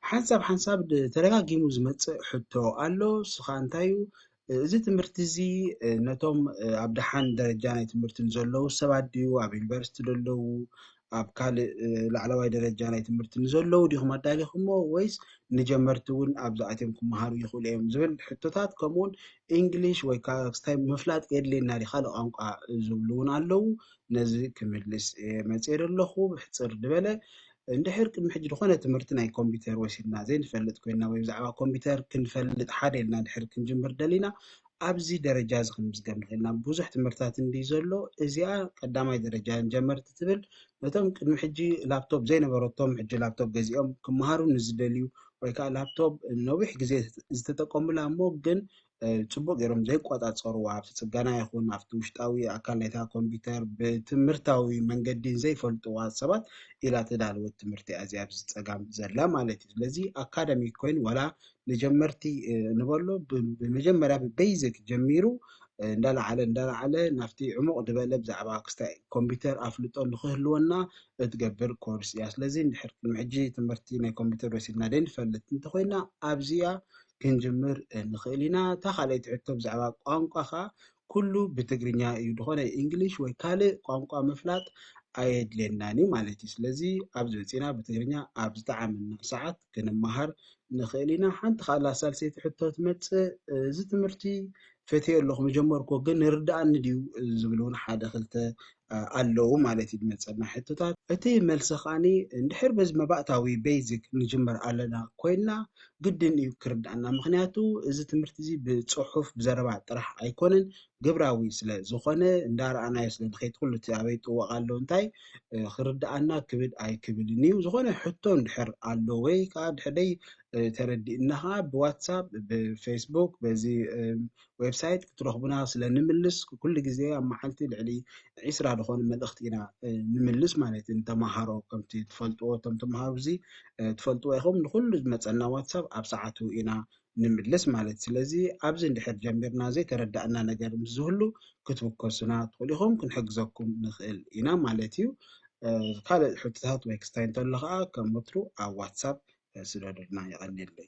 ሓንሳብ ሓንሳብ ተደጋጊሙ ዝመጽእ ሕቶ ኣሎ፣ እሱ ኸኣ እንታይ እዩ፣ እዚ ትምህርቲ እዚ ነቶም ኣብ ደሓን ደረጃ ናይ ትምህርቲ ንዘለዉ ሰባት ድዩ፣ ኣብ ዩኒቨርሲቲ ዘለዉ፣ ኣብ ካልእ ላዕለዋይ ደረጃ ናይ ትምህርቲ ንዘለዉ ዲኹም ኣዳሊኹሞ ወይስ ንጀመርቲ እውን ኣብዚ ኣትዮም ክመሃሩ ይኽእሉ እዮም ዝብል ሕቶታት ከምኡውን ኢንግሊሽ ወይ ካስታይ ምፍላጥ የድልየና ዲ ካልእ ቋንቋ ዝብሉ እውን ኣለዉ ነዚ ክምልስ መጽኤ ዘለኹ ብሕጽር ዝበለ እንድሕር ቅድሚ ሕጂ ዝኾነ ትምህርቲ ናይ ኮምፒተር ወሲድና ዘይንፈልጥ ኮይንና ወይ ብዛዕባ ኮምፒተር ክንፈልጥ ሓደ ኢልና እንድሕር ክንጅምር ደሊና ኣብዚ ደረጃ እዚ ክንምዝገብ ንኽእል ኢና። ብዙሕ ትምህርትታት እንድዩ ዘሎ፣ እዚኣ ቀዳማይ ደረጃ ንጀመርቲ ትብል ነቶም ቅድሚ ሕጂ ላፕቶፕ ዘይነበረቶም ሕጂ ላፕቶፕ ገዚኦም ክመሃሩ ንዝደልዩ ወይ ከዓ ላፕቶፕ ነዊሕ ግዜ ዝተጠቀሙላ እሞ ግን ጽቡቕ ጌሮም ዘይቆጻጸሩዋ ኣብቲ ጽገና ይኹን ኣብቲ ውሽጣዊ ኣካል ናይታ ኮምፒተር ብትምህርታዊ መንገዲ ዘይፈልጡዋ ሰባት ኢላ ተዳለወት ትምህርቲ እያ እዚኣ ኣብዚ ጸጋም ዘላ ማለት እዩ። ስለዚ ኣካደሚክ ኮይኑ ዋላ ንጀመርቲ ንበሎ ብመጀመርያ ብቤይዚክ ጀሚሩ እንዳላዓለ እንዳላዓለ ናብቲ ዕሙቕ ድበለ ብዛዕባ ክስታይ ኮምፒተር ኣፍልጦ ንክህልወና እትገብር ኮርስ እያ ስለዚ እንድሕር ቅድሚ ሕጂ ትምህርቲ ናይ ኮምፒተር ወሲድና ደይንፈልጥ እንተኾይና ኣብዚኣ ክንጅምር ንኽእል ኢና። እታ ካልኣይቲ ሕቶ ብዛዕባ ቋንቋ ከኣ ኩሉ ብትግርኛ እዩ ዝኾነ እንግሊሽ ወይ ካልእ ቋንቋ ምፍላጥ ኣየድልየናን እዩ ማለት እዩ። ስለዚ ኣብዚ መጺእና ብትግርኛ ኣብ ዝጠዓመና ሰዓት ክንመሃር ንኽእል ኢና። ሓንቲ ካላ ሳልሰይቲ ሕቶ ትመጽእ እዚ ትምህርቲ ፈትዮ ኣለኹ ምጀመርኩዎ ግን ይርድኣኒ ድዩ ዝብል እውን ሓደ ክልተ ኣለዉ ማለት እዩ ዝመጸና ሕቶታት። እቲ መልሲ ከኣ እንድሕር በዚ መባእታዊ፣ basic፣ ንጅምር ኣለና ኮይንና ግድን እዩ ክርድኣና ምኽንያቱ እዚ ትምህርቲ እዚ ብጽሑፍ ብዘረባ ጥራሕ ኣይኮነን ግብራዊ ስለ ዝኾነ እንዳረኣናዮ ስለ ንኸይድ ኩሉ እቲ ኣበይ ጥወቕ ኣሎ እንታይ ክርድኣና ክብድ ኣይክብልን እዩ ዝኾነ ሕቶ እንድሕር ኣሎ ወይ ከኣ ድሕደይ ተረዲእና ከኣ ብዋትሳፕ ብፌስቡክ በዚ ዌብሳይት ክትረኽቡና ስለ ንምልስ ኩሉ ግዜ ኣብ መዓልቲ ልዕሊ ዒስራ ዝኾኑ መልእኽቲ ኢና ንምልስ ማለት እዩ ንተምሃሮ ከምቲ ትፈልጥዎ እቶም ተምሃሮ እዚ ትፈልጥዎ ኢኹም ንኩሉ ዝመፀና ዋትሳብ ኣብ ሰዓቱ ኢና ንምልስ ማለት ስለዚ ኣብዚ እንድሕር ጀሚርና ዘይተረዳእና ነገር ምስ ዝህሉ ክትውከሱና ትኽእሉ ኢኹም ክንሕግዘኩም ንኽእል ኢና ማለት እዩ ካልእ ሕቶታት ወይ ክስታይ እንተሎ ከዓ ከም ወትሩ ኣብ ዋትሳብ ስደዱልና የቐኒለይ